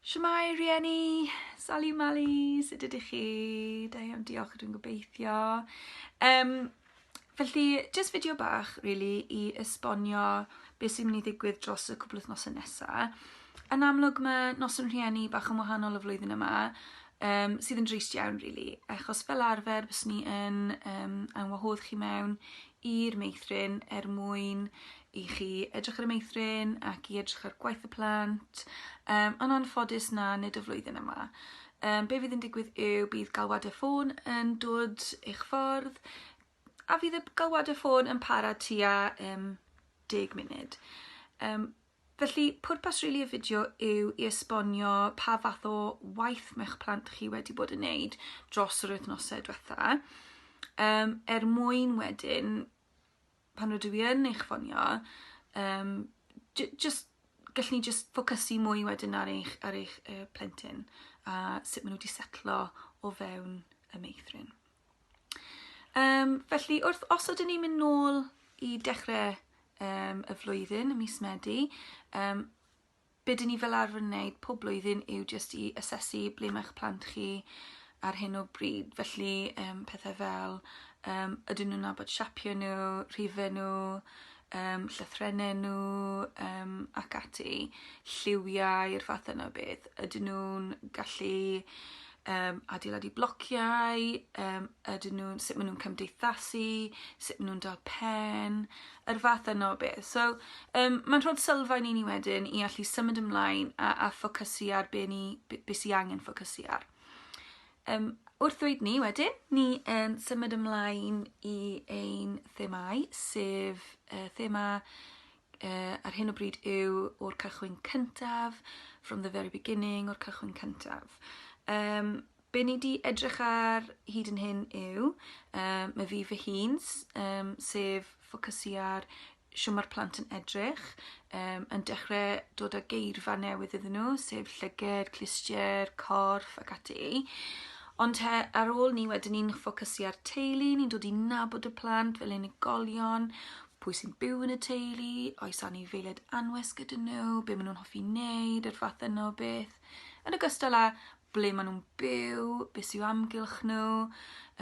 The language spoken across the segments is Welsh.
Shwmae rieni, Sali Mali, sut ydych chi? Da iawn, diolch ydw'n gobeithio. Um, felly, jyst fideo bach, really, i esbonio beth sy'n mynd i ddigwydd dros y cwbl wythnosau nesaf. Yn amlwg mae nos yn rhieni bach yn wahanol y flwyddyn yma, um, sydd yn drist iawn, really, achos fel arfer bys ni yn um, anwahodd chi mewn i'r meithrin er mwyn i chi edrych ar y meithrin ac i edrych ar gwaith y plant, um, ond anffodus na, nid y flwyddyn yma. Um, be fydd yn digwydd yw bydd galwadau ffôn yn dod eich ffordd, a fydd y galwadau ffôn yn para tua um, 10 munud. Um, felly, pwrpas rili really y fideo yw i esbonio pa fath o waith mae'ch plant chi wedi bod yn neud dros yr wythnosau diwetha, um, er mwyn wedyn pan rydw i yn eich ffonio, um, just, gallwn ni just ffocysu mwy wedyn ar eich, ar eich uh, plentyn a sut maen nhw wedi setlo o fewn y meithrin. Um, felly, wrth, os ydyn ni'n mynd nôl i dechrau um, y flwyddyn, y mis Medi, um, Be dyn ni fel arfer yn neud pob blwyddyn yw jyst i asesu ble mae'ch plant chi ar hyn o bryd felly yym pethe fel yym ydyn nhw'n nabod siapie nhw, rhife nhw, yym llythrenne nhw yym ac ati, lliwiau'r fath yna o beth. Ydyn nhw'n gallu um, adeiladu blociau, um, ydyn nhw, sut maen nhw'n cymdeithasu, sut maen nhw'n dal pen, yr fath yno o beth. So, um, mae'n rhod sylfaen i ni wedyn i allu symud ymlaen a, a ffocysu ar be, ni, be, be sy'n angen ffocysu ar. Um, wrth ddweud ni wedyn, ni um, symud ymlaen i ein themau, sef uh, thema uh, ar hyn o bryd yw o'r cychwyn cyntaf, from the very beginning, o'r cychwyn cyntaf. Um, be ni di edrych ar hyd yn hyn yw, um, mae fi fy hun, um, sef ffocysu ar sio mae'r plant yn edrych, um, yn dechrau dod â geirfa newydd iddyn nhw, sef llyged, clustiau, corff ac ati. Ond he, ar ôl ni wedyn ni'n ffocysu ar teulu, ni'n dod i nabod y plant fel unigolion, pwy sy'n byw yn y teulu, oes anifeiliaid anwes gyda nhw, be maen nhw'n hoffi wneud, yr fath yno o beth. Yn ogystal â ble maen nhw'n byw, beth sy'n amgylch nhw,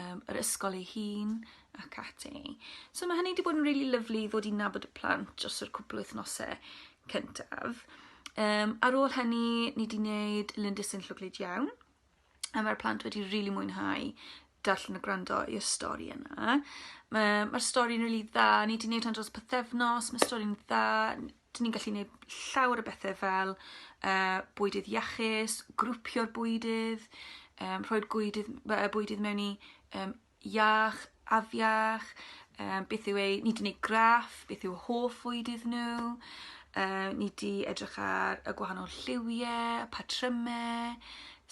um, yr ysgol ei hun ac ati. So mae hynny wedi bod yn rili really lyflu i ddod i nabod y plant dros yr cwpl wythnosau cyntaf. Um, ar ôl hynny, ni wedi gwneud lindys yn llwglyd iawn. a mae'r plant wedi rili really mwynhau darllen a gwrando i'r stori yna. Mae'r ma stori'n rili really dda, ni wedi gwneud hyn dros pythefnos, mae stori'n dda, dyn ni'n gallu gwneud llawer o bethau fel uh, bwydydd iachus, grwpio'r bwydydd, um, rhoi'r bwydydd, bwydydd mewn i um, iach, afiach, um, beth yw ei, ni wedi gwneud graff, beth yw hoff fwyd iddyn nhw, uh, ni wedi edrych ar y gwahanol lliwiau, patrymau,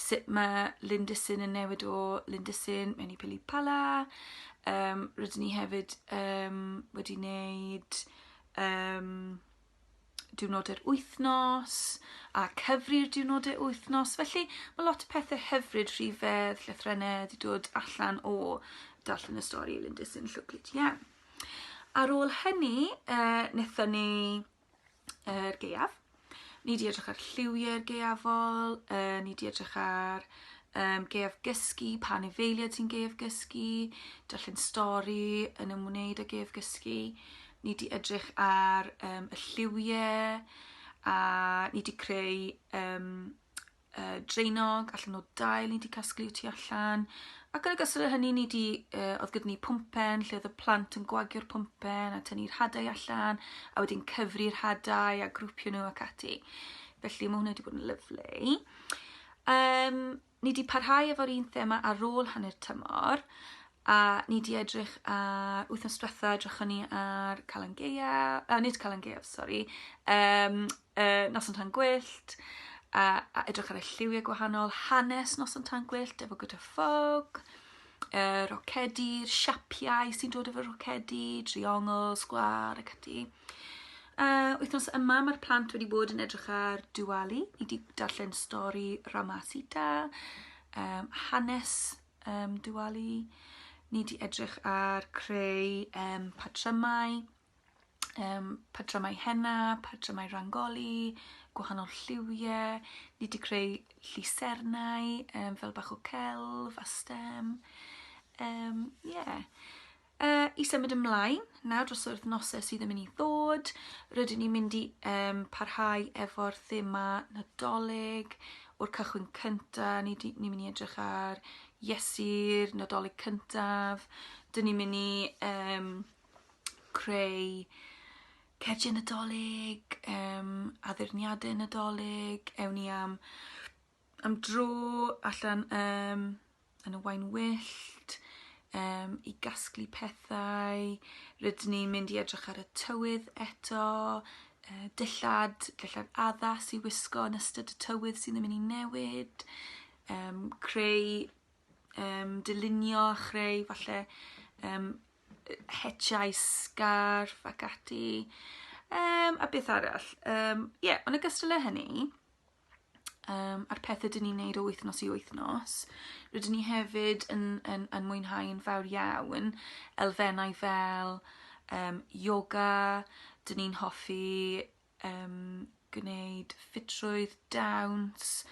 sut mae Lindysyn yn newid o Lindysyn mewn i Pili Pala. Um, rydyn ni hefyd um, wedi wneud um, diwrnodau'r wythnos a cyfri'r diwrnodau wythnos. Felly mae lot o pethau hyfryd, rhifedd, llythrennau wedi dod allan o darllen y stori Lindys yn llwglyd iawn. Ar ôl hynny, uh, nethon ni yr uh, geiaf. Ni di edrych ar lliwiau'r geiafol, uh, ni di edrych ar um, geiaf gysgu, pa nefeiliad sy'n geiaf gysgu, darllen stori yn ymwneud â geiaf gysgu. ni 'di edrych ar um, y lliwie, a ni 'di creu um, uh, dreinog allan o dail ni 'di casglu tu allan, ac yn y gysur â hynny ni 'di, uh, oedd gyda ni pwmpen lle oedd y plant yn gwagio'r pwmpen a tynnu'r hadau allan, a wedyn cyfri'r hadau a grwpio nhw ac ati. Felly mae hwnna wedi bod yn lyflu. Um, ni 'di parhau efo'r un thema ar ôl hanner tymor, a ni 'di edrych ar, wythnos diwetha edrychon ni ar Calan Gaeaf, uh, nid Calan Gaeaf, sori, um, uh, Noson Tan Gwyllt, a, a edrych ar y lliwiau gwahanol, hanes Noson Tan Gwyllt efo gyda ffog, uh, rocedi'r siapiau sy'n dod efo'r rocedi, triongl, sgwar ac ati. Uh, wythnos yma mae'r plant wedi bod yn edrych ar Diwali. Ni wedi darllen stori Ramasita, um, hanes um, Diwali. Ni wedi edrych ar creu um, patrymau, um, patrymau henna, patrymau rangoli, gwahanol lliwiau. Ni wedi creu llusernau um, fel bach o celf a stem. Um, yeah. Uh, I symud ymlaen, nawr dros yr wythnosau sydd yn mynd i ddod, rydyn ni'n mynd i um, parhau efo'r thema Nadolig o'r cychwyn cyntaf, ni'n ni, ni mynd i edrych ar Iesu'r Nadolig cyntaf, dyn ni'n mynd i um, creu cerdiau Nadolig, um, addurniadau Nadolig, ewn ni am am dro allan um, yn y wain wyllt um, i gasglu pethau. Rydyn ni'n mynd i edrych ar y tywydd eto, uh, dillad, dillad addas i wisgo yn ystod y tywydd sydd yn mynd i newid, um, creu, um, dylunio a chreu falle um, hetiau sgarf ac ati. Um, a beth arall? Um, yeah, ond y gystal â hynny, um, a'r pethau dyn ni'n neud o wythnos i wythnos. Rydyn ni hefyd yn, yn, yn mwynhau'n fawr iawn elfennau fel um, yoga, dyn ni'n hoffi um, gwneud ffitrwydd, dawns,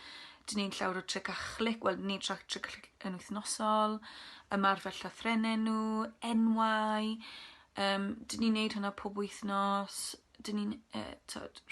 dyn ni'n llawer o tric a chlic, wel ni'n trac tric a chlic yn wythnosol, ymarfer llythrenau nhw, enwau, um, dyn ni'n neud hwnna pob wythnos, dyn ni'n uh,